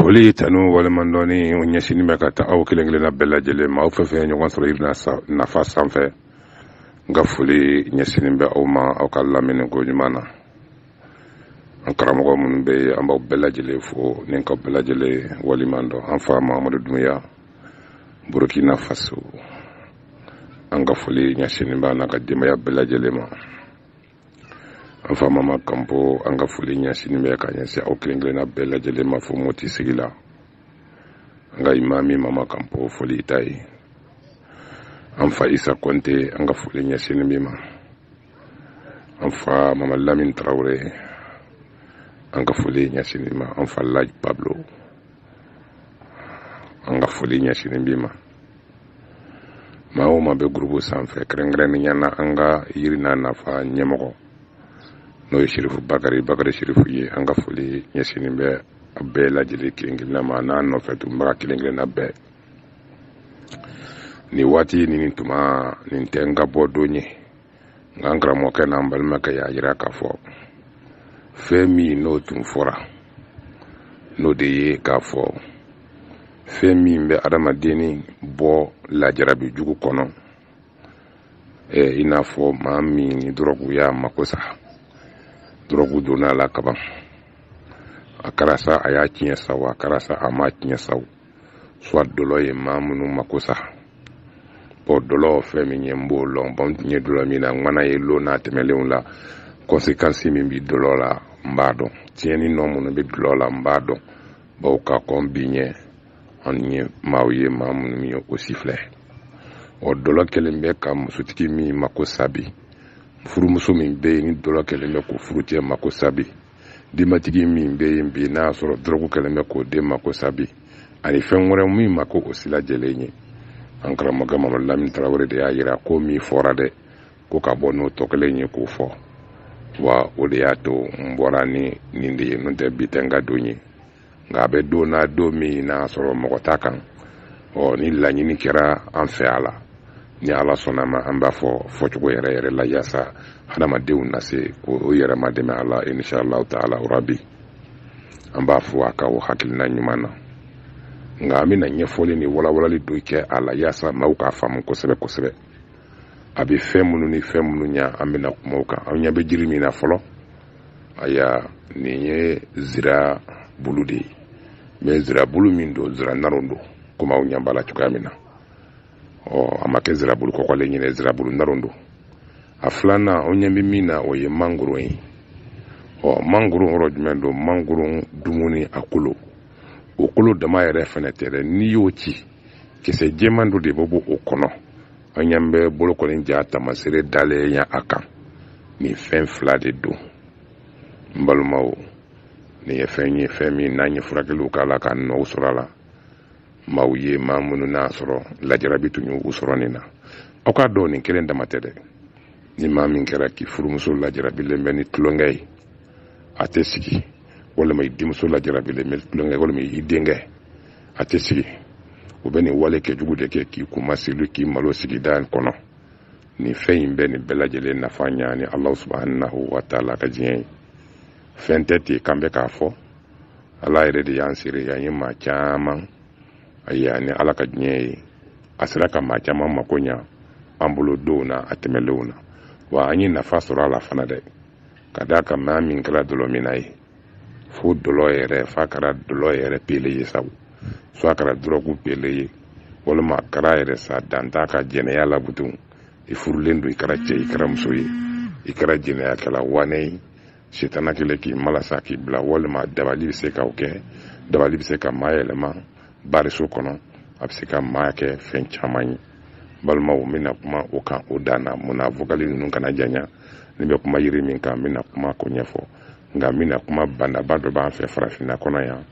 foli tanu waleɲumandɔn o ɲɛsinin bɛ ka taa aw kelen kelenna bɛɛ lajɛlen ma aw fɛn fɛn ɲɔgɔn sɔrɔ yiri n'a nafa sanfɛ n ka foli ɲɛsinin bɛ aw ma aw ka lamɛnni ko ɲuman na an karamɔgɔ minnu bɛ yen an b'aw bɛɛ lajɛlen fo ni k'a bɛɛ lajɛlen waleɲumandɔn an fa mahamadu dunbiya burukina faso an ka foli ɲɛsinin b'a n'a ka denbaya bɛɛ lajɛlen ma an fa mama kanpo an ka foli ɲɛsinin bɛ ka ɲɛsin aw kelen kelenna bɛɛ lajɛlen ma fo moti sigi la an ka imami mama kanpo foli i ta ye an fa isa kɔnte an ka foli ɲɛsinin b'i ma an fa mama lamin tarawele an ka foli ɲɛsinin b'i ma an fa laji pablo an ka foli ɲɛsinin b'i ma maa o maa bɛ gurubu sanfɛ kɛrɛnkɛrɛnnenya na an ka yiri n'a nafa ɲɛmɔgɔ n'o ye sirifu bakari bakari sirifu ye an ka foli ɲɛsinnen bɛ a bɛɛ lajɛlen kelen kelenna ma n'a nɔfɛ tunbaga kelen kelenna bɛɛ nin waati nin ni tuma nin tɛ n ka bɔ don ye nka n karamɔgɔkɛ n'an balimakɛ y'a jira k'a fɔ fɛn min n'o tun fɔra n'o de ye k'a fɔ fɛn min bɛ adamadenni bɔ lajarabi jugu kɔnɔ eh, i n'a fɔ maa min ni dɔrɔgu y'a mako sa dɔrɔgu donna a la kaban a kɛra sa a y'a tiɲɛ sa wo a kɛra sa a m'a tiɲɛ sa soit dɔlɔ ye maa minnu mako sa bɔn dɔlɔ fɛn min ye n b'o lɔn bɔn n tun ye dɔlɔminna ŋana ye lon tɛmɛlenw la kɔnsekansi min bɛ dɔlɔ la n b'a dɔn tiɲɛni nɔ minnu bɛ dɔlɔ la n b'a dɔn bawo ka kɔn bi ɲɛ an ye maaw ye maa minnu ye o si filɛ ɔ dɔlɔ kɛlen bɛ ka musotigi min mako sa bi furumuso min bɛ yen ni dɔlɔ kɛlen bɛ k'o furucɛ mako sa bi denbatigi min bɛ yen bi n'a y'a sɔrɔ dɔrɔgu kɛlen bɛ k'o den mako sa bi ani fɛn wɛrɛ min ma ko o sila jɛlen ye an karamɔgɔkɛ mamadu lamini tarawele de y'a yira ko min fɔra dɛ ko ka bɔ n'o tɔ kelen ye k'o fɔ wa o de y'a to n bɔra ni nin de ye n'o tɛ bi tɛ n ka don ye nka a bɛ don na don min n'a sɔrɔ mɔgɔ t'a kan ɔ ni laɲini kɛra an fɛ a la ni ala sɔnna a ma an b'a fɔ fɔcogo yɛrɛ yɛrɛ la yaasa hadamadenw na se k'o yɛrɛ madɛmɛ a la inshallahu taala rabi an b'a fo a ka o hakilina ɲuman na nka an bɛna ɲɛfɔli ni walawalali dɔ kɛ a la yaasa maaw k'a faamu kosɛbɛ kosɛbɛ a bɛ fɛn minnu ni fɛn minnu ɲa an bɛna kuma o kan an ɲɛ bɛ jiri min na fɔlɔ ayiwa nin ye zira bulu de ye mɛ zira bulu min don zira naron don komi aw ɲɛ b'a la cogoya min na ɔ a ma kɛ zira bulu kɔgɔlen ye dɛ zira bulu naron don a filanan aw ɲɛ bɛ min na o ye mangoro ye ɔ mangoro yɔrɔ jumɛn don mangoro dumuni a kolo o kolo dama yɛrɛ fɛnɛ tɛ dɛ n'i y'o ci kisɛ jɛman dɔ de bɛ bɔ o kɔnɔ aw ɲɛ bɛ bolokɔni ja tamasere dalen ye a kan nin fɛn fila de don n balimaw nin ye fɛn ye fɛn min n'an ye furakɛliw k'a la ka nɔw sɔrɔ a la maaw ye maa minnu n'a sɔrɔ lajarabi tun y'u sɔrɔ nin na aw k'a dɔn nin kelen dama tɛ dɛ ni maa min kɛra k'i furumuso lajarabilen bɛ ni tulonkɛ ye a tɛ sigi walima i denmuso lajarabilen bɛ tulonkɛ walima i denkɛ a tɛ sigi u bɛ nin wale kɛ jugu de kɛ k'i kunmasuli k'i malo sigida kɔnɔ nin fɛn in bɛ nin bɛɛ lajɛlen nafa ɲa ni ala subahanahu wa taala ka diɲɛ ye fɛn tɛ ten k'an bɛ k'a fɔ ala yɛrɛ de y'an seere yan ye maa caman a ye ni ala ka diɲɛ ye a sera ka maa caman mako ɲa an bolo denw na a tɛmɛlenw na wa an ye nafa sɔrɔ a la fana dɛ ka d'a kan maa min kɛra dɔlɔminna ye fo dɔlɔ yɛrɛ f'a kɛra dɔlɔ yɛrɛ pele ye sabu fo a kɛra dɔrɔgu pele ye walima a kɛra yɛrɛ sa dan t'a ka jɛnɛya la butun i furulen don i kɛra cɛ i kɛra muso ye i kɛra jɛnɛyakɛla waane ye setana kelen k'i malasa k'i bila walima dabali bɛ se ka o kɛ dabali bɛ se ka maa yɛlɛma bariso kɔnɔ a bɛ se ka maa kɛ fɛn caman ye balimaw n bɛna kuma o kan o dan na mun na vokali ninnu kana janya ne bɛ kuma yiri min kan n bɛna kuma ko ɲɛfɔ nka n bɛna kuma banaba dɔ b'an fɛ farafinna kɔnɔ yan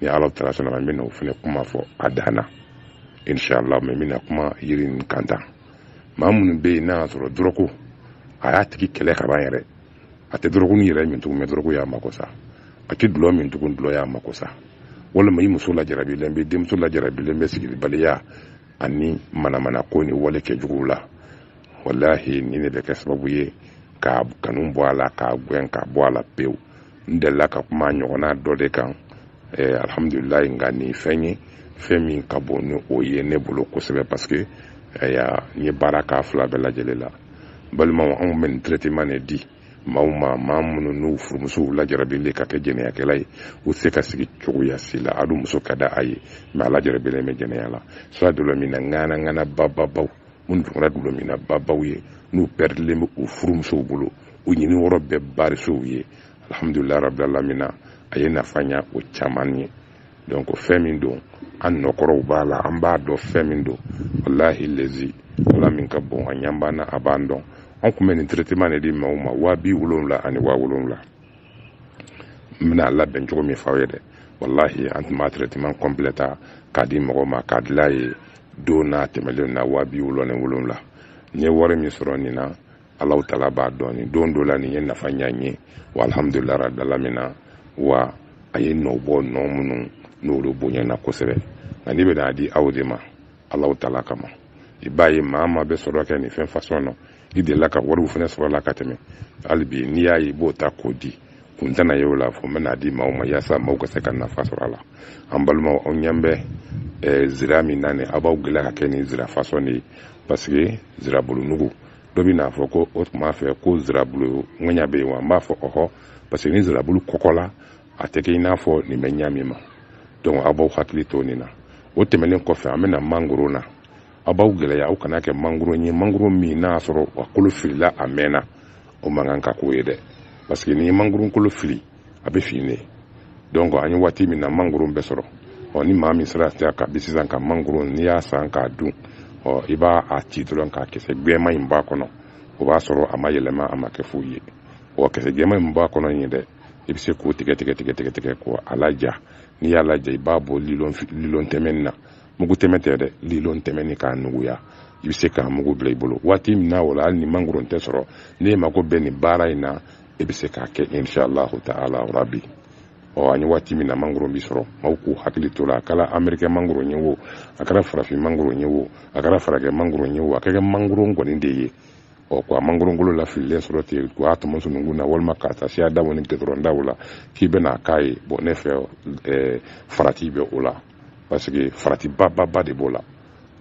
ni ala taala sɔnna a ma n bɛna o fana kuma fɔ a dan na inshallah mɛ n bɛna kuma yiri nin kan tan maa minnu bɛ yen n'a y'a sɔrɔ dɔrɔgu a y'a tigi kɛlɛ ka ban yɛrɛ a tɛ dɔrɔgu nin yɛrɛ min tugun mɛ dɔrɔgu y'a mako sa a tɛ dulɔ min tugun dulɔ y'a mako sa walima i muso lajarabilen bɛ denmuso lajarabilen bɛ sigibaliya ani manamana ko ni wale kɛ juguw la walahi nin in bɛ kɛ sababu ye k'a kanu bɔ a la k'a gɛn ka bɔ a la pewu n delila ka kuma ɲɔgɔnna dɔ de kan eh, alhamdulilayi nka nin fɛn ye fɛn min ka bon ni o ye ne bolo kosɛbɛ parce que eh, n ye baara k'a fila bɛɛ lajɛlen la balimaw anw bɛ nin traitement de di maaw ma maa minnu n'u furumusow lajarabilen ka kɛ jɛnɛyakɛla ye u tɛ se ka sigi cogoya si la a dun muso ka di a ye mɛ a lajarabilen bɛ jɛnɛya la sa dɔlɔminna ŋana ŋana bababaw minnu dugu la dɔlɔminna babaw ye n'u pɛridilen bɛ u furumusow bolo u ɲini yɔrɔ bɛɛ barisow ye alhamdulilayi rabilalamina a ye nafa ɲa o caman ye donc fɛn min don an nɔ kɔrɔw b'a la an b'a dɔn fɛn min don walahi lezi ala min ka bon a ɲa b'an na a b'an dɔn an kun bɛ nin traitement de di maaw ma waa bi wolonwula ani waa wolonwula n bɛna a labɛn cogo min f'aw ye dɛ walahi an tun b'a traitement complet ta k'a di mɔgɔw ma k'a dila ye don n'a tɛmɛlen na waa bi wolonwula ni wolonwula n ye wari min sɔrɔ nin na Ala tala b'a dɔn don dɔ la nin ye nafa ɲa n ye wa alhamdulila dala min na wa a ye nɔ bɔ nɔ minnu n'o bonyayana kosɛbɛ ani n bɛ a di aw de ma ala tala kama i b'a ye maa maa bɛ sɔrɔ kɛ nin fɛn fasɔn na i dela ka wariw fana sɔrɔ a la ka tɛmɛ hali bi n'i y'a ye n b'o ta k'o di kun tɛna ye o la fo n bɛna a di maaw ma yaasa maaw ka se ka nafa sɔrɔ a la an balimaw aw ɲɛ bɛ eh, zira min na nin aw b'aw gɛlɛya ka kɛ nin zira fasɔn de ye parce que zirabulunugu dɔ bɛna a fɔ ko o tun b'a fɛ ko zirabulu ŋɛɲa bɛ yen wa n b'a fɔ ɔhɔ parce que ni zirabulu kɔgɔla a tɛ kɛ i n'a fɔ nin bɛ ɲa min ma donc aw b'aw hakili to nin na o tɛmɛnen kɔfɛ an bɛ na mangoro na aw b'aw gɛlɛya a kana kɛ mangoro ye mangoro min n'a y'a sɔrɔ a kolo filila a mɛnna o man kan ka k'o ye dɛ parce que n'i ye mangoro kolo fili a bɛ fin de donc an ye waati min na mangoro bɛ sɔrɔ ɔ ni maa min sera kabi sisan ka mangoro n'i y'a san k'a dun ɔ i b'a a ci dɔrɔn k'a kisɛ gbɛma in b'a kɔnɔ o b'a sɔrɔ a ma yɛlɛma a ma kɛ foyi ye ɔ kisɛ gbɛma in b'a kɔnɔ in ye dɛ i bɛ se k'o tigɛ tigɛ tigɛ tigɛ tigɛ k'o a laja n'i y'a laja i b'a bɔ lilɔn lilɔn tɛmɛni na mugu tɛmɛ tɛ dɛ lilɔn tɛmɛni k'a nuguya i bɛ se k'a mugu bila i bolo waati min na o la hali ni mangoro tɛ sɔrɔ n'i mako bɛ nin baara in na i bɛ se k'a kɛ inshallahu ta'ala rabi ɔ an ye waati min na mangoro bi sɔrɔ maaw k'u hakili to a la a kɛra amerikɛ mangoro ye wo a kɛra farafin mangoro ye wo a kɛra farakɛ mangoro ye wo a ka kɛ mangoro kɔni de ye ɔ ko a mangorokolo lafililen sɔrɔ ten ko a tɔmɔ sununkun na walima k'a ta siradaw ni gidɔrɔndaw la k'i bɛna a k'a ye bon ne fɛ farati bɛ o la parce que farati ba ba ba de b'o la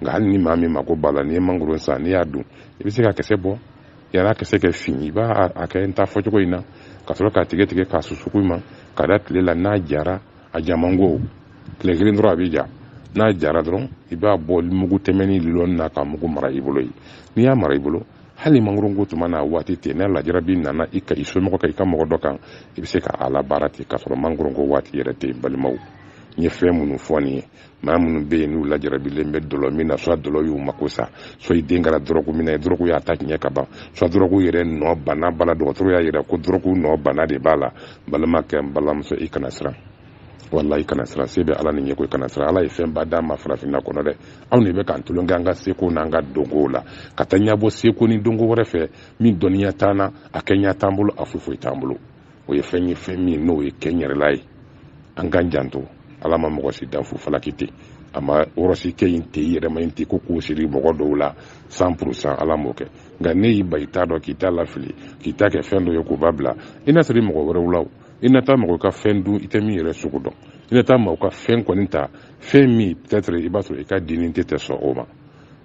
nka hali ni maa min mako b'a la n'i ye mangoro san n'i y'a dun i bɛ se ka kisɛ bɔ yani a kisɛ kɛ fin i b'a a kɛ n ta fɔcogo in na ka sɔrɔ k'a tigɛ tigɛ k'a susuku i ma k'a da tile la n'a jara a ja man go tile kelen dɔrɔn a bɛ ja n'a jara dɔrɔn i b'a bɔ mugu tɛmɛni lilɔni na k'a mugu mara i bolo yen n'i y'a mara i bolo hali mangoronko tuma n'a waati tɛ n'a lajarabi nana i kan i somɔgɔ kan i ka mɔgɔ dɔ kan i bɛ se ka a labaara ten k'a sɔrɔ mangoronko waati yɛrɛ tɛ balimaw n ye fɛn minnu fɔ nin ye maa minnu bɛ yen n'u lajarabilen bɛ dɔlɔ min na soit dɔlɔ y'u mako sa soit i den kɛra dɔrɔgu minɛ dɔrɔgu y'a ta tiɲɛ ka ban soit dɔrɔgu yɛrɛ nɔ bana b'a la dɔgɔtɔrɔ y'a yira ko dɔrɔgu nɔ bana de b'a la balimakɛ n balimamuso i kana siran walayi kana siran se bɛ ala ni ɲɛko i kana siran ala ye fɛnba d'an ma farafinna kɔnɔ dɛ anw de bɛ ka tulon kɛ an ka seko n'an ka dɔnkow la ka taa ɲɛbɔ seko ni dɔnko wɛrɛ fɛ min dɔnniya t'an na a kɛɲɛ t'an bolo a foyi foyi t'an bolo o ye fɛn ye fɛn min n'o ye kɛ yɛrɛla ye an ka janto ala ma mɔgɔ si dan fu falaki ten a ma wɔrɔsi kɛ in tɛ yɛrɛma in ten ko k'o siri mɔgɔ dɔw la san purusan ala m'o kɛ nka n'e y'i ban i ta dɔn k'i ta lafili k'i ta kɛ fɛn dɔ ye k'o b'a bila i na siri mɔgɔ wɛrɛw la i na taa mɔgɔ ka fɛn dun i tɛ min yɛrɛ sugu dɔn i na taa mɔgɔ ka fɛn kɔni ta fɛn min peut-être i b'a sɔrɔ i ka dini tɛ tɛ sɔn o ma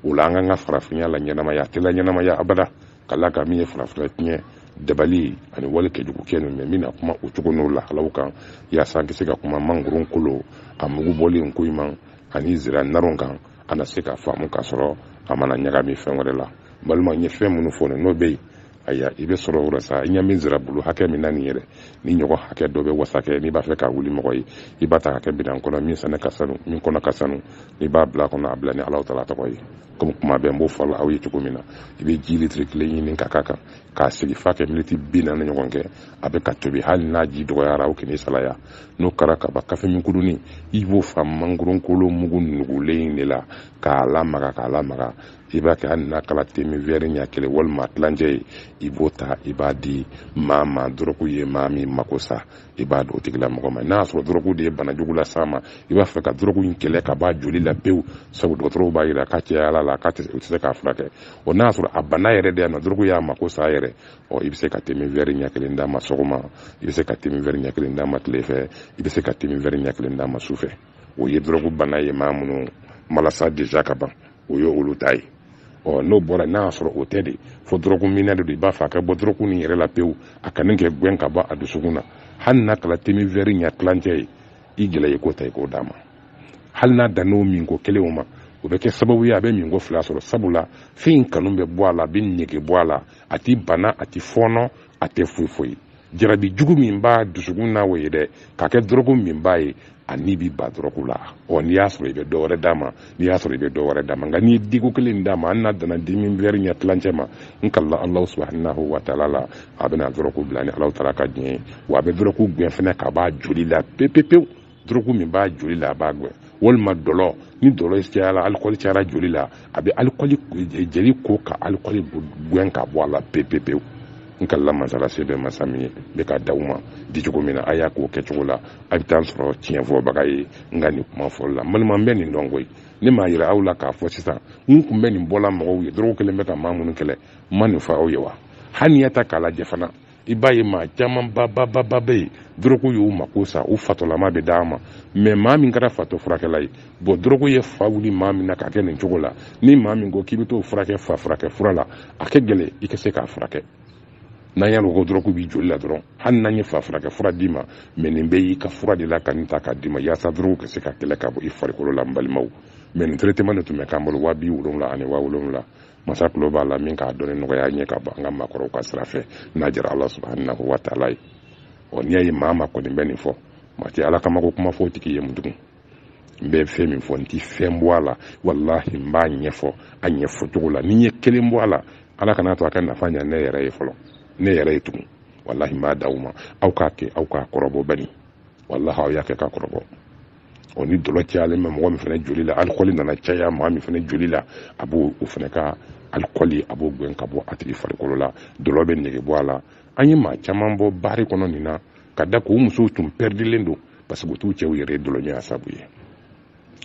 o la an k'an ka farafinya laɲɛnamaya a tɛ laɲɛnamaya abada ka la ka min ye farafina tiɲɛ dabali ani wale kɛjugu kɛ ninnu min na kuma o cogo n'o lahalaw kan yaasa an tɛ se ka kuma mangoron kolo a mugu bɔlen ko ɲuman ani zira naron kan an na se ka faamu k'a sɔrɔ a mana ɲagami fɛn wɛrɛ la balima n ye fɛn minnu fɔ n'o bɛ yen aya i bɛ sɔrɔ o la sa i ɲɛ min zira bulu hakɛ min na nin yɛrɛ ni ɲɔgɔn hakɛ dɔ bɛ wasa kɛ n'i b'a fɛ ka wuli mɔgɔ ye i b'a ta ka kɛ bidan kɔnɔ min sɛnɛ ka sanu min kɔnɔ ka sanu n'i b'a bila kɔnɔ a bila ni alahu taala tɔgɔ ye komi kuma bɛɛ n b'o fɔ aw ye cogo min na i bɛ ji litiri kelen ɲini ka k'a kan k'a sigi f'a kɛ miniti bi naani ɲɔgɔn kɛ a bɛ ka tobi hali n'a ji dɔgɔyara o kɛnɛ salaya n'o kɛra ka ban kafeminkudunin i b'o fa mangoronkolo mugu nugulen in de la k'a lamaga k'a lamaga i b'a kɛ hali n'a kɛra temin wɛri ɲɛ kelen walima tilancɛ ye i b'o ta i b'a di maa ma dɔrɔgu ye maa min mako sa i b'a d'o tigilamɔgɔ ma n'a y'a sɔrɔ dɔrɔgu de ye bana jugu las'a ma i b'a fɛ ka dɔrɔgu in kɛlɛ ka b'a joli la pewu sabu dɔgɔtɔrɔw b'a yira ka caya a la k'a tɛ u tɛ se k'a furakɛ o n'a y'a sɔrɔ a bana yɛrɛ de yan nɔ dɔrɔgu y'a mako sa yɛrɛ ɔ i bɛ se ka temin wɛri ɲɛ kelen d'a ma sɔgɔma i bɛ se ka temin wɛri ɲɛ kelen d'a ma tile fɛ i bɛ se ka temin wɛri ɲɛ kelen d'a ma su fɛ o ye dɔrɔgu bana ye maa minnu malasa deja ka ban o ye olu ta ye ɔ n'o bɔra n'a y'a sɔrɔ o tɛ de fo dɔrɔguminna de don i b'a fɛ a ka bɔ dɔrɔgu nin yɛrɛ la pewu a kanu kɛ gɛn ka bɔ a dusukun na hali n'a kɛra temin vɛri ɲɛ tilancɛ ye i gɛlɛya i k'o ta i k'o d'a ma hali n'a dann'o minko kelen o ma o bɛ kɛ sababu ye a bɛ minko fila sɔrɔ sabula fɛn in kanu bɛ bɔ a la a bɛ nege bɔ a la a tɛ bana a tɛ fɔɔnɔ a tɛ foyi foyi jarabi jugu min b'a dusukun na o ye dɛ k'a kɛ dɔrɔguminbaa ye ani b'i ban dɔrɔgu la ɔ n'i y'a sɔrɔ i bɛ dɔ wɛrɛ d'a ma n'i y'a sɔrɔ i bɛ dɔ wɛrɛ d'a ma nka n'i ye diko kelen d'a ma hali n'a danna temin wɛri ɲɛ tilancɛ ma n kalila alahu subahanahu wa taala la a bɛna dɔrɔgu bila ni alahu taala ka diɲɛ ye wa a bɛ dɔrɔgu gɛn fɛnɛ k'a b'a joli la pepepewu dɔrɔgu min b'a joli la a b'a gɛn walima dɔlɔ ni dɔlɔ cayara alikɔli cayara joli la a bɛ alikɔli jeli ko ka alikɔli gɛn ka bɔ a la pepepewu n kalila mansa la se bɛ masa min ye ne k'a d'aw ma dicogo min na a y'a k'o kɛcogo la a bɛ taa n sɔrɔ tiɲɛfɔbaga ye n ka nin kuma fɔli la balima bɛ nin dɔn koyi ne m'a yira aw la k'a fɔ sisan n tun bɛ nin fɔla mɔgɔw ye dɔrɔgu kɛlen bɛ ka maa minnu kɛlɛ n ma nin fɔ aw ye wa hali n'i y'a ta k'a lajɛ fana i b'a ye maa caman babababa bɛ yen dɔrɔgu y'u mako sa u fatɔlama bɛ taama mɛ maa min kɛra fatɔ furakɛla ye bɔn dɔrɔgu ye fa wuli maa min na k'a kɛ nin cogo la ni maa min ko k'i bɛ t'o furakɛ fa furakɛ fura la a ka gɛlɛn i ka se k'a furakɛ n'an y'a ko dɔrɔgu b'i joli la dɔrɔn hali n'an ye fa furakɛ fura d'i ma mɛ nin bɛ y'i ka fura de la ka nin ta k'a d'i ma yaasa dɔrɔgu ka se ka kɛlɛ ka bɔ i farikolo la n balimaw mɛ nin traitement de tun bɛ k'an bolo waa bi wolonwula ani waa wolonwula masa tulo b'a la min k'a dɔnni nɔgɔya n ye ka bɔ an ka maakɔrɔw ka sira fɛ n'a jara ala subahanahu wa taala ye ɔ n'i y'a ye maa min kɔni bɛ nin fɔ maa tɛ ala kama ko kuma fɔ o tigi ye mun tugun n bɛ fɛn min fɔ n ti fɛn bɔ a la walahi n b'a ɲɛfɔ a ɲɛfɔ cogo la ni n ye kelen bɔ a la ala kan'a to a ka nafa ɲa ne yɛrɛ ye fɔlɔ ne yɛrɛ ye tugun walahi n b'a d'aw ma aw k'a kɛ aw k'a kɔrɔbɔ bani walahi aw y'a kɛ k'a kɔrɔbɔ o ni dɔlɔ cayalen bɛ mɔgɔ min fana joli la alikɔli nana caya maa min fana joli la a b'o o fana ka alikɔli a b'o gɛn ka bɔ a tigi farikolo la dɔlɔ bɛ nege bɔ a la an ye maa caman bɔ baari kɔnɔ nin na ka d'a kan u musow tun pɛridilen don parce que u t'u cɛw yɛrɛ dɔlɔɲɔgɔnya sabu ye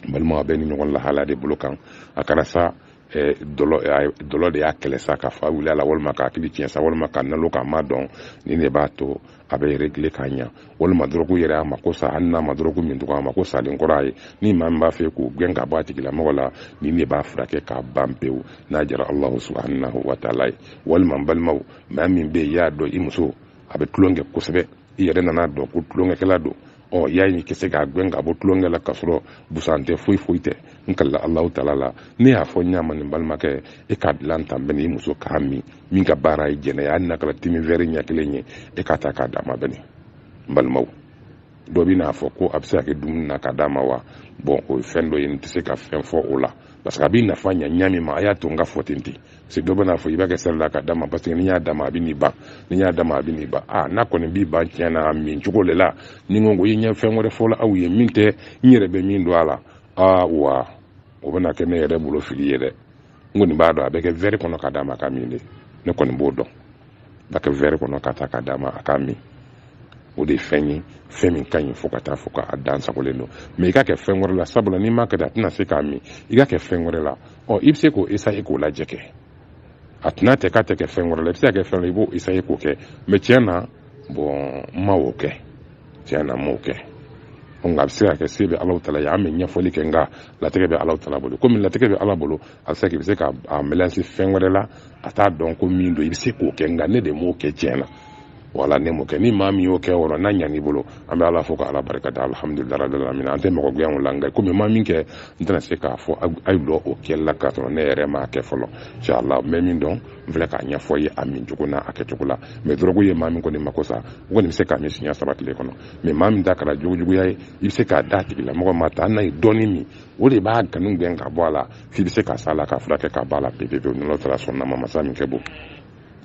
balima bɛ nin ɲɔgɔn lahala de bolo kan a kana sa eh, dɔlɔ eh, dɔlɔ de y'a kɛlɛ sa ka fa wuli a la walima k'a hakili tiɲɛ sa walima k'a nalon k'a ma dɔn nin de b'a to a bɛ régler k'a ɲa walima dɔrɔgu yɛrɛ a mako sa hali n'a ma dɔrɔgu min tugun a mako salen kɔrɔ a ye ni maa min b'a fɛ k'o gɛn ka bɔ a tigilamɔgɔ la nin de b'a furakɛ k'a ban pewu n'a jara allahu subhanahu wa taala ye walima n balimaw maa min bɛ yen y'a dɔn i muso a bɛ tulon kɛ kosɛbɛ i yɛrɛ nan'a dɔn ko tulonkɛkɛla don ɔ y'a ye i ka se k'a gɛn ka bɔ tulonkɛ la k'a sɔrɔ busan tɛ foyi foyi tɛ n kalila alahu taala la ne y'a fɔ ɲa min n balimakɛ e k'a dilan tan bɛn i muso k'a min min ka baara ye jɛnɛya ye na kala timi wɛri ɲɛ kelen ye e k'a ta k'a d'a ma bɛn n balimaw dɔ bɛn'a fɔ ko a bɛ se ka kɛ dumuni na ka d'a ma wa bɔn o ye fɛn dɔ ye n tɛ se ka fɛn fɔ o la parce que a b'i nafa ɲa ɲa min ma a y'a to n k'a fɔ ten ten se dɔ bɛna fɔ i b'a kɛ sira la ka d'a ma parce que n'i y'a d'a ma a bɛn'i ban n'i y'a d'a ma a bɛn'i ban a n'a kɔni b'i ban tiɲɛ na a min cogo de la ni n ko i ɲɛ fɛn wɛrɛ fɔla aw ye min tɛ n yɛrɛ bɛ min don a la awa o bɛna kɛ ne yɛrɛ bolo fili ye dɛ n kɔni b'a dɔn a bɛ kɛ wɛri kɔnɔ ka d'a ma k'a min de ne kɔni b'o dɔn k'a kɛ wɛri kɔnɔ ka taa ka d'a ma a k'a min o de ye fɛn ye fɛn min ka ɲi fo ka taa fɔ k'a dan sagolen don mɛ i ka kɛ fɛn wɛrɛ la sabula n'i m'a kɛ a tɛna se k'a min i ka kɛ fɛn wɛrɛ la ɔ i bɛ se k'o esaye k'o lajɛ kɛ a tɛna tɛ k'a tɛ kɛ fɛn wɛrɛ la i bɛ se ka kɛ fɛn i b'o esaye k'o kɛ mɛ tiɲɛ na bɔn n m'o kɛ tiɲɛ na n m'o kɛ nka a bɛ se ka kɛ se bɛ alahu taala ye an bɛ ɲɛfɔli kɛ nka latigɛ bɛ alahu taala bolo komi latigɛ bɛ ala bolo a bɛ se k'i bɛ se ka a mɛlansi fɛn wɛrɛ la a t'a dɔn ko min don i bɛ se k'o kɛ nka ne de m'o kɛ tiɲɛ na wala ne m'o kɛ ni maa min y'o kɛ yɔrɔ n'a ɲan'i bolo an bɛ ala fo ka ala barika da alihamudulila rabbil alamin an tɛ mɔgɔ gɛn o la nka komi n ma min kɛ n tɛna se k'a fɔ a ye don o kɛli la k'a sɔrɔ ne yɛrɛ m'a kɛ fɔlɔ inshallah n bɛ min dɔn n filɛ k'a ɲɛfɔ ye a min cogo n'a a kɛcogo la mɛ dɔrɔgu ye maa min kɔni mako sa o kɔni bɛ se k'a min siɲɛ saba tile kɔnɔ mɛ maa min ta kɛra jogojuguya ye i bɛ se k'a da a tigilamɔgɔ ma ta hali n'a ye dɔɔni min o de b'a kanu gɛn ka bɔ a la f'i bɛ se ka sa la k'a furakɛ ka bɔ a la pepe pewu n'o taara sɔn nama masa min kɛ bon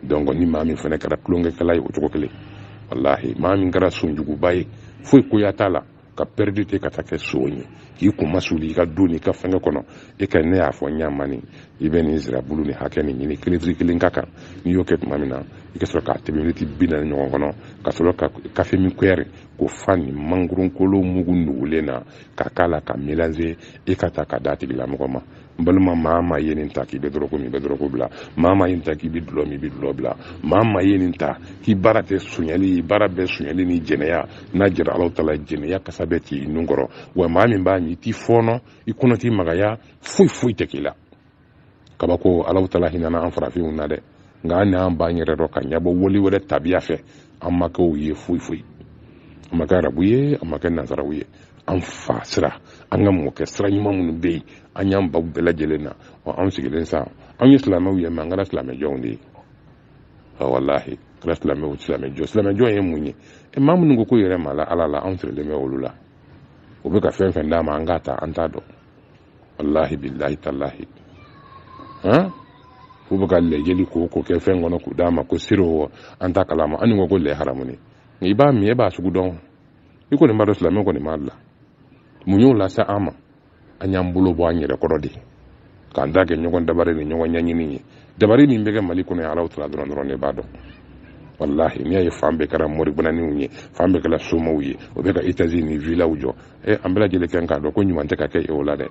donc ni maa min fana kɛra tulonkɛkɛla ye o cogo kelen walahi maa min kɛra sonjuguba ye foyi koya t'a la ka pɛridi te ka taa kɛ sow ye k'i kunmasuli i ka du n'i ka fɛngɛ kɔnɔ e ka ne y'a fɔ ɲa min i bɛ nin zirabulu ni hakɛ nin ɲini ka litiri kelen k'a kan n'i y'o kɛ tuma min na i ka sɔrɔ k'a tɛmɛ miniti bi naani ɲɔgɔn kɔnɔ ka sɔrɔ ka kafe min kuyɛri k'o fa nin mangoronkolo mugu nugulen na k'a k'a la k'a melanze i k'a ta k'a d'a tigilamɔgɔ ma n balima maa ma ye nin ta k'i bɛ dɔrɔgu min i bɛ dɔrɔgu bila maa ma ye nin ta k'i bɛ dulɔ min i bɛ dulɔ bila maa ma ye nin ta k'i baara tɛ sonyali baara bɛɛ sonyali ni jɛnɛya n'a diyara alaw tala jɛnɛya kasa bɛ t'i nun kɔrɔ wa maa min b'a min a t'i fɔɔnɔ i kɔnɔ tɛ magaya foyi foyi tɛ k'i la kabako alaw tala hinɛna an farafinw na dɛ nka an n'an b'an yɛrɛ dɔn k'an ɲɛ bɔ wali wɛrɛ tabiya fɛ an ma kɛ u ye foyi foyi an ma kɛ arabu ye an ma kɛ nazaraw ye an fa sira an ka mɔkɛ sira ɲuman minnu bɛ yen an y'an ban o bɛɛ lajɛlen na wa anw sigilen sa anw ye silamɛw ye mɛ an kɛra silamɛjɔnw de ye walahi kɛra silamɛw silamɛjɔ silamɛjɔn ye mun ye e maa minnu ko k'u yɛrɛ ma la ala la anw sirilen bɛ olu la u bɛ ka fɛn fɛn d'an ma an k'a ta an t'a dɔn wallahi billahi tallahi han f'u bɛ ka lɛ joli ko ko kɛ fɛn kɔnɔ k'o d'an ma ko siro an t'a kalama an ko ko lɛ haramunen i b'a min e b'a sogo dun i kɔni b'a dɔn silamɛ kɔni b'a la mun y'o lase an ma an y'an bolo bɔ an yɛrɛ kɔrɔ de k'an ta kɛ ɲɔgɔn dabari ni ɲɔgɔn ɲɛɲini ye dabari min bɛ kɛ mali kɔnɔ yan alaw tala dɔrɔn dɔrɔn de b'a dɔn walahi n'i y'a ye fan bɛɛ kɛra moribananiw ye fan bɛɛ kɛra somaw ye u bɛ ka etazi ni vilaw jɔ e an bɛɛ lajɛlen kɛ k'a dɔn ko ɲuman tɛ ka kɛ e o la dɛ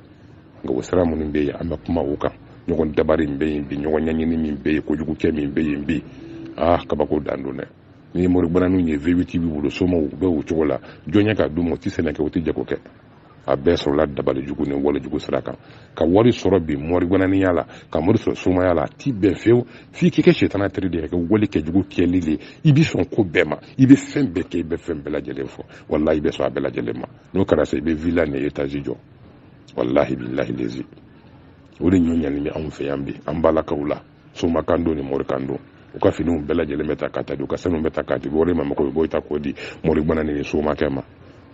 nka o sira minnu bɛ yen an bɛ kuma o kan ɲɔgɔn dabari min bɛ yen bi ɲɔgɔn ɲɛɲini min bɛ yen kojugu kɛ min bɛ yen bi aa kabako dan don dɛ ni moribananinw ye vewiti b'u bolo somaw u bɛ o cogo la jɔn ye k'a d'u ma u tɛ sɛnɛ kɛ u tɛ jago kɛ a bɛɛ sɔrɔla dabali jugu ni wale jugu sira kan ka wari sɔrɔ bi moribananiya la ka wari sɔrɔ somaya la a tɛ bɛn fewu f'i k'i kɛ setana teri de ye ka wale kɛ jugu kɛli de ye i bɛ sɔn ko bɛɛ ma i bɛ fɛn bɛɛ kɛ i bɛ fɛn bɛɛ lajɛlen fɔ walahi i bɛ sɔn a bɛɛ lajɛlen ma n'o kɛra sa i bɛ villa ni etazi jɔ walahi bilahi lezi o de ɲɔ ɲani bɛ anw fɛ yan bi an balakaw la soma kan don ni mori kan don u ka finiw bɛɛ lajɛlen bɛ ta ka taa di u ka sanu bɛ ta ka di mori ma mɔgɔ bɛ bɔ i ta k'o di moriba ni somakɛ ma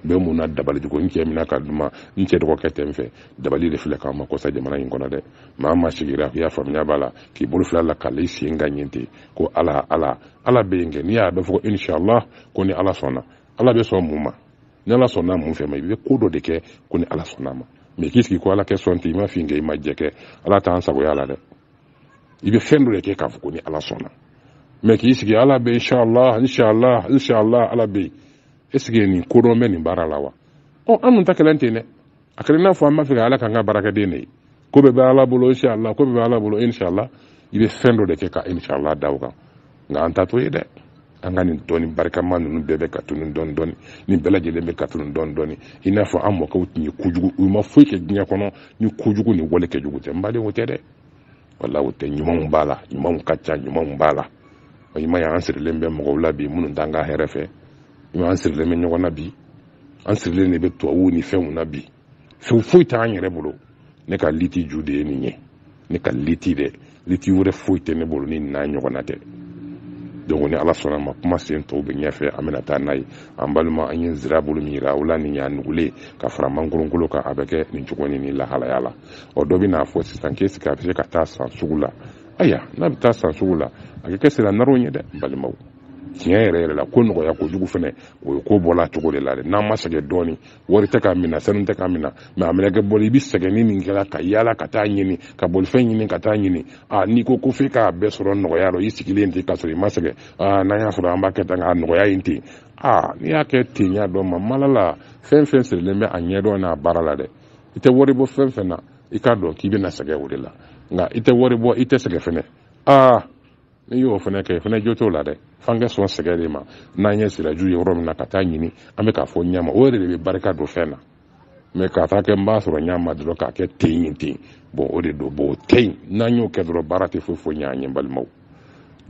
bɛ mun na dabali ko n cɛ mina ka duma n cɛ dɔgɔkɛ tɛ n fɛ dabali de filɛ k'an ma kɔ sa jamana in kɔnɔ dɛ maa ma sigira i y'a faamuya b'a la k'i bolo fila la k'a la i sen kan nin ten ko ala ala ala bɛ yen kɛ n'i y'a bɛ fɔ ko inshallah ko ni ala sɔnna ala bɛ sɔn mun ma ni ala sɔnna mun fɛn ma i bɛ ko dɔ de kɛ ko ni ala sɔnna ma mɛ k'i sigi ko ala ka sɔn ten i ma fin kɛ i ma jɛ kɛ ala t'an sagoya la dɛ i bɛ fɛn dɔ de kɛ k'a fɔ ko ni ala sɔnna mɛ k'i sigi ala bɛ inshallah inshallah inshallah ala bɛ yen est ce que nin kodɔn bɛ nin baara la wa ɔ an dun ta kɛlen ten dɛ a kɛra n'a fɔ an b'a fɛ ka ala k'an ka baarakɛden de ye ko bɛɛ bɛ ala bolo inshallah ko bɛɛ bɛ ala bolo inshallah i bɛ fɛn dɔ de kɛ ka inshallah da o kan nka an ta t'o ye dɛ an ka nin dɔnni barikama ninnu bɛɛ bɛ ka tunu dɔɔni dɔɔni nin bɛɛ lajɛlen bɛ ka tunu dɔɔni dɔɔni i n'a fɔ an mɔkɛw tun ye kojugu u ma foyi kɛ diɲɛ kɔnɔ ni kojugu ni walejugu tɛ n baden o tɛ dɛ walahi o tɛ ɲumanw b'a la ɲumanw ka ca ɲumanw b'a la o ɲuman y'an sirilen bɛ mɔgɔw la bi minnu t'an ka hɛrɛ fɛ ɲuman sirilen bɛ ɲɔgɔn na bi an sirilen de bɛ tubabuw ni fɛnw na bi fɛn foyi t'an yɛrɛ bolo ne ka liti ju de ye nin ye ne ka liti dɛ liti wɛrɛ foyi tɛ ne bolo ni n'a ɲɔgɔnna tɛ donc ni ala sɔnna ma kuma sen tɔw bɛ ɲɛfɛ an bɛna taa n'a ye an balima an ye zirabulu min yira aw la n'i y'a nugulen ka fara mangoronkolo kan a bɛ kɛ nin cogo ni nin lahalaya la ɔ dɔ bɛ n'a fɔ sisan ko est ce que a bɛ se ka taa san sugu la ayi n'a bɛ taa san sugu la a bɛ kɛ sira naraw ye dɛ balimaw tiɲɛ yɛrɛ yɛrɛ la ko nɔgɔya kojugu fɛnɛ o ye ko bɔla cogo de la dɛ n'an ma sɛgɛn dɔɔni wari tɛ k'a minɛ sanu tɛ k'a minɛ mɛ a mɛnɛ kɛ bɔli i bɛ sɛgɛn ni nin kɛra ka yaala ka taa ɲini ka bolifɛn ɲini ka taa ɲini a n'i ko ko f'i k'a bɛɛ sɔrɔ nɔgɔya la i sigilen ten k'a sɔrɔ i ma sɛgɛn aa n'an y'a sɔrɔ an b'a kɛ tan k'a nɔgɔya yen ten aa n'i y'a kɛ ten y'a dɔn ma mala la fɛn fɛn sirilen bɛ a ɲɛdɔn n'a baara la dɛ i tɛ wari bɔ fɛn fɛn na i k'a dɔn k'i bɛna sɛgɛn o de la nka i tɛ wari bɔ i tɛ sɛgɛn fɛnɛ aa n'i y'o fɛnɛ kɛ fɛnɛ jo t'o la dɛ f'an ka sɔn sɛgɛn de ma n'an ye siraju ye yɔrɔ min na ka taa ɲini an bɛ k'a fɔ ɲɛma o yɛrɛ de bɛ barika don fɛn na mɛ k'a taa kɛ n b'a sɔrɔ ɲɛma dɔrɔn k'a kɛ ten yen ten bɔn o de don bɔn o tɛ yen n'an y'o kɛ dɔrɔn baara tɛ foyi foyi ɲɛ an ye balimaw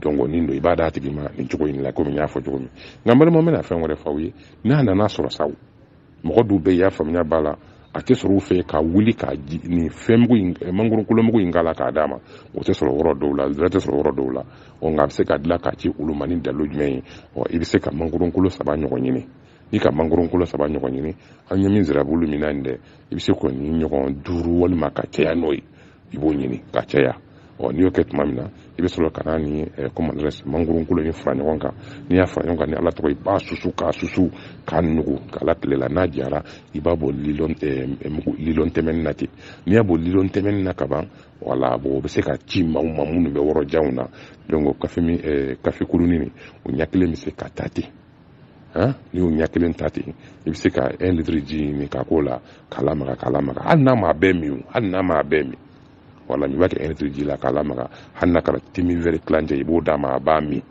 donc nin don i b'a d'a tigi ma nin cogo in la komi n y'a fɔ cogo min nka n balima n bɛna fɛn wɛrɛ f'aw ye n'a nana sɔrɔ sa mɔgɔ dɔw bɛ y'a faamuya b'a la a tɛ sɔrɔ u fɛ ka wuli ka nin fɛnmugu in eh, mangoronkolomugu in k'a la k'a d'a ma o tɛ sɔrɔ yɔrɔ dɔw la zira tɛ sɔrɔ yɔrɔ dɔw la ɔ nka a bɛ se ka dilan k'a ci olu ma ni dalu jumɛn ye ɔ i bɛ se ka mangoronkolo saba ɲɔgɔn ɲini n'i ka mangoronkolo saba ɲɔgɔn ɲini an ye min zirabulu min na nin dɛ i bɛ se k'o nin ɲɔgɔn duuru walima ka caya n'o ye i b'o ɲini ka caya ɔ n'i y'o kɛ tuma min na i bɛ sɔrɔ ka na ni comment dirais-je mangoro kolo in fara ɲɔgɔn kan n'i y'a fara ɲɔgɔn kan ni ala tɔgɔ i b'a susu k'a susu k'a nugu k'a la tile la n'a jara i b'a bɔ lilɔn tɛmɛnin na ten n'i y'a bɔ lilɔn tɛmɛnin na ka ban wala bon o bɛ se ka ci maaw ma minnu bɛ yɔrɔ janw na donc kafe kurunin o ɲɛ kelen bɛ se ka ta ten n'i y'o ɲɛ kelen ta ten i bɛ se ka un litre ji min ka k'o la k'a lamaga k'a lamaga hali n'a m'a bɛɛ min hali n'a m'a bɛɛ min wala i b'a kɛ un litre ji la k'a lamaga hali n'a kɛra te min wɛrɛ tilancɛ i b'o d'a ma a b'a min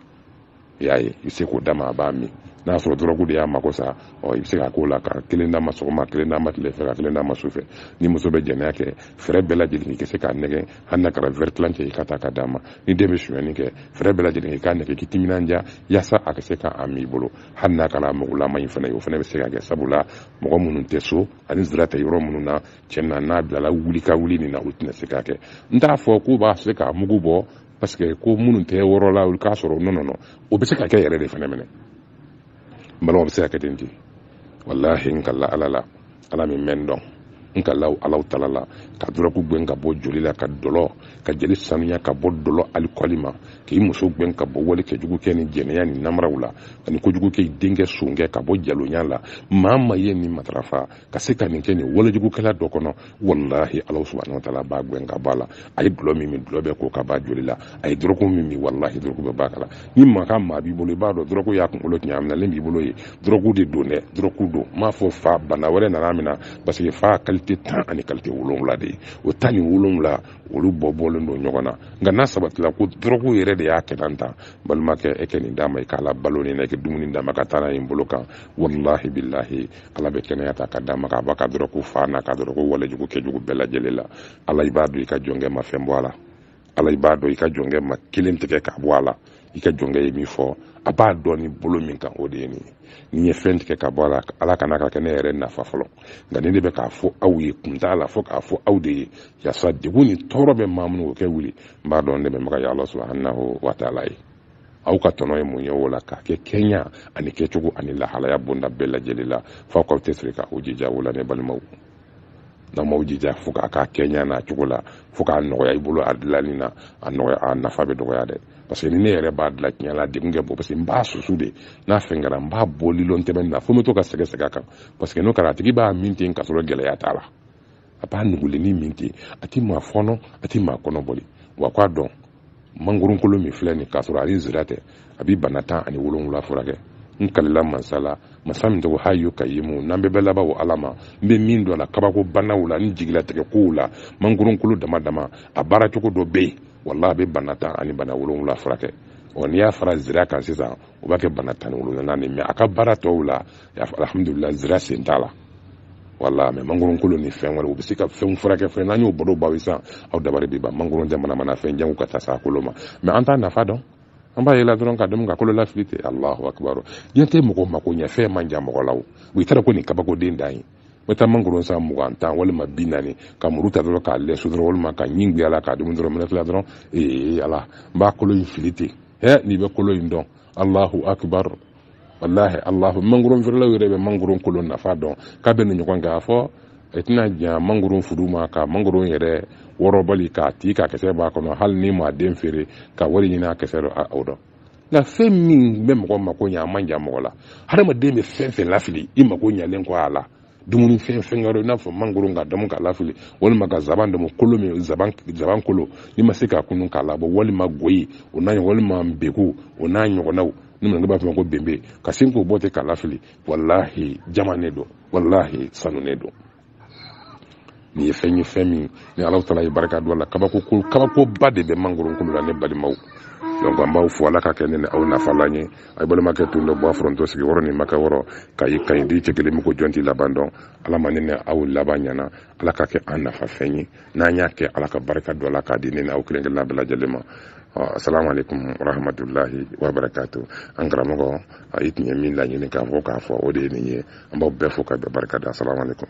i y'a ye i bɛ se k'o d'a ma a b'a min n'a y'a sɔrɔ dɔrɔgu de y'a mako sa ɔ i bɛ se ka k'o la ka kelen d'a ma sɔgɔma kelen d'a ma tile fɛ ka kelen d'a ma su fɛ ni muso bɛ jɛnɛya kɛ fɛɛrɛ bɛɛ lajɛlen i ka se k'a nɛgɛ hali n'a kɛra wɛrɛ tilancɛ i k'a ta k'a d'a ma ni den bɛ sonyɛni kɛ fɛɛrɛ bɛɛ lajɛlen i k'a nɛgɛ k'i timinanja yasa a ka se k'a min i bolo hali n'a kɛra mugulama in fana ye o fana bɛ se ka kɛ sabula mɔgɔ minnu tɛ so ani zira tɛ yɔrɔ minnu na cɛn na n'a bilala wuli ka wuli nin na u tɛna se ka kɛ n t'a fɔ k'u b'a se k'a mugu bɔ parce que ko minnu tɛ wɔrɔ la olu k'a sɔrɔ nɔnɔ nɔ o bɛ se ka kɛ yɛrɛ de fana minɛ n balimaw bɛ se ka kɛ ten ten walahi n kali ala la ala min mɛn dɔn n ka law alahu taala la ka dɔrɔgu gɛn ka bɔ joli la ka dɔlɔ ka jeli sanuya ka bɔ dɔlɔ alikɔli ma k'i muso gɛn ka bɔ wale kɛ jugu kɛ ni jɛnɛya ni namaraw la ani kojugu kɛ denkɛ sonkɛ ka bɔ jalonya la maa ma ye nin matarafa ka se ka nin kɛ nin walejugukɛla dɔ kɔnɔ walahi alahu subahanahu wa taala b'a gɛn ka bɔ a la a ye dɔlɔ min min dɔlɔ bɛ ko ka b'a joli la a ye dɔrɔgu min min walahi dɔrɔgu bɛ b'a kala ni mankan maa b'i bolo i b'a dɔn dɔrɔgu y'a kunkolo tiɲɛ a minɛlen b'i bolo ye dɔrɔgu de don dɛ dɔrɔgu don n m'a fɔ fa bana wɛrɛ nana min na parce que fa kalite tan ani kalite wolonwula de ye o tan ni wolonwula olu bɔ bɔlen don ɲɔgɔn na nka n'a sabatila ko dɔrɔgu yɛrɛ de y'a kɛ tan tan balimakɛ e ka nin d'a ma i k'a labalo nin na i ka dumuni d'a ma ka taa n'a ye nin bolo kan walahi bilahi ala bɛ kɛnɛya ta ka d'a ma k'a b'a ka dɔrɔgu fa n'a ka dɔrɔgu walejugu kɛjugu bɛɛ lajɛlen la ala i b'a dɔn i ka jɔnkɛ ma fɛn bɔ a la ala i b'a dɔn i ka jɔnkɛ ma kelen tigɛ k'a bɔ a la i ka jɔnkɛ ye min fɔ a b'a dɔn ni bolo min kan o de ye nin ye ni n ye fɛn tigɛ ka bɔ a la ala kana k'a kɛ ne yɛrɛ nafa fɔlɔ nka nin de bɛ k'a fɔ aw ye kun t'a la fo k'a fɔ aw de ye yasa degun ni tɔɔrɔ bɛ maa minnu o ka wuli n b'a dɔn ne bɛ maga ya ala subahanahu wa taala ye aw ka tɔnɔ ye mun ye o la k'a kɛ kɛɲa ani kɛcogo ani lahalaya bonda bɛɛ lajɛlen la f'aw k'aw cɛsiri k'aw jija o la ne balimaw n'aw m'aw jija fo k'a k'a kɛɲa n'a cogo la fo k'a nɔgɔya i bolo a dilanni na a nɔgɔya a nafa bɛ dɔgɔya dɛ parce que ni ne yɛrɛ b'a dilan tiɲɛ la a degun ka bon parce que n b'a susu de n'a fɛn kɛra n b'a bɔ lilɔn tɛmɛnin na fo n bɛ to ka segin segin a kan parce que n'o kɛra a tigi b'a min ten k'a sɔrɔ gɛlɛya t'a la a b'a nugulenni min ten a tɛ maa fɔɔnɔ a tɛ maa kɔnɔ boli wa k'a dɔn mangoronkolo min filɛ nin k'a sɔrɔ a ni zira tɛ a bɛ bana tan ani wolonwula furakɛ n kalila mansa la masa min tɔgɔ hayu kayumu n'an bɛɛ bɛ laban o ala ma n bɛ min dɔn a la kabako banaw la ni jigilatigɛ kow la mangoronkolo dama dama a baara cogo dɔ bɛ yen walahi a bɛ bana tan ani bana wolonwula furakɛ ɔ n'i y'a fara zira kan sisan o b'a kɛ bana tan ni wolonwula ni mɛ a ka baara tɔw la alhamdulila zira sen t'a la wala mɛ mangoron kolo ni fɛn wɛrɛ u bɛ se ka fɛnw furakɛ fɛn n'an y'o baro baw sisan aw dabari bɛ ban mangoron jamana mana fɛn janw ka taa sa kolo ma mɛ an t'a nafa dɔn an b'a yela dɔrɔn k'a dun ka kolo lafili ten alahu akibaru diɲɛ tɛ mɔgɔ mako ɲɛ fɛn man jan mɔgɔ la o i taara ko nin kabakoden dan ye bɛ taa mangoro san mugan tan walima bi naani ka muru ta dɔrɔn k'a lɛsɛ dɔrɔn walima ka ɲin guyala k'a dumu dɔrɔn mana tila dɔrɔn ee ala n b'a kolo in fili ten he n'i bɛ kolo in dɔn allahu akbar wallahi allahu mangoron feerelaw yɛrɛ bɛ mangoron kolo nafa dɔn k'a bɛ ni ɲɔgɔn kɛ a fɔ e tɛna jan mangoron furu ma ka mangoron yɛrɛ wɔrɔbali k'a ti ka kisɛ b'a kɔnɔ hali n'i ma den feere ka wari ɲini a kisɛ dɔ o dɔn nka fɛn min bɛ mɔgɔ mako ɲɛ a man jan mɔgɔ la hadamaden bɛ fɛn fɛn lafili i mako ɲɛlen kɔ a la dumuni fɛn fɛn ka i n'a fɔ mangoro k'a damu k'a lafili walima ka zaban damu kolo min zaban zaban kolo n'i ma se k'a kunun k'a labɔ walima goyi o n'a walima beku o n'a ɲɔgɔnnaw ni minnu b'a fɔ ko benbe ka sin k'o bɔ ten k'a lafili walahi jaman ne don walahi sanu ne don nin ye fɛn ye fɛn min ni ala taala ye barika don a la kabako ko kabakoba de bɛ mangoro kolo la ne balimaw donc an b'aw fo ala k'a kɛ ne ni aw nafalan ye a ye balimakɛ tun dɔ bɔ a foronto sigi wɔrɔ ni makɛ wɔrɔ ka ye kaɲi di cɛ kelen min ko jɔn t'i laban dɔn ala ma ne ni aw laban ɲana ala k'a kɛ an nafa fɛn ye n'an y'a kɛ ala ka barika don a la k'a di ne ni aw kelen kelenna bɛɛ lajɛlen ma assalamu alaikum warahmatullahi wabarakatuh an karamɔgɔ a i tun ye min laɲini k'a fɔ k'a fɔ o de ye nin ye an b'aw bɛɛ fo k'aw bɛɛ barika da asalamu aleykum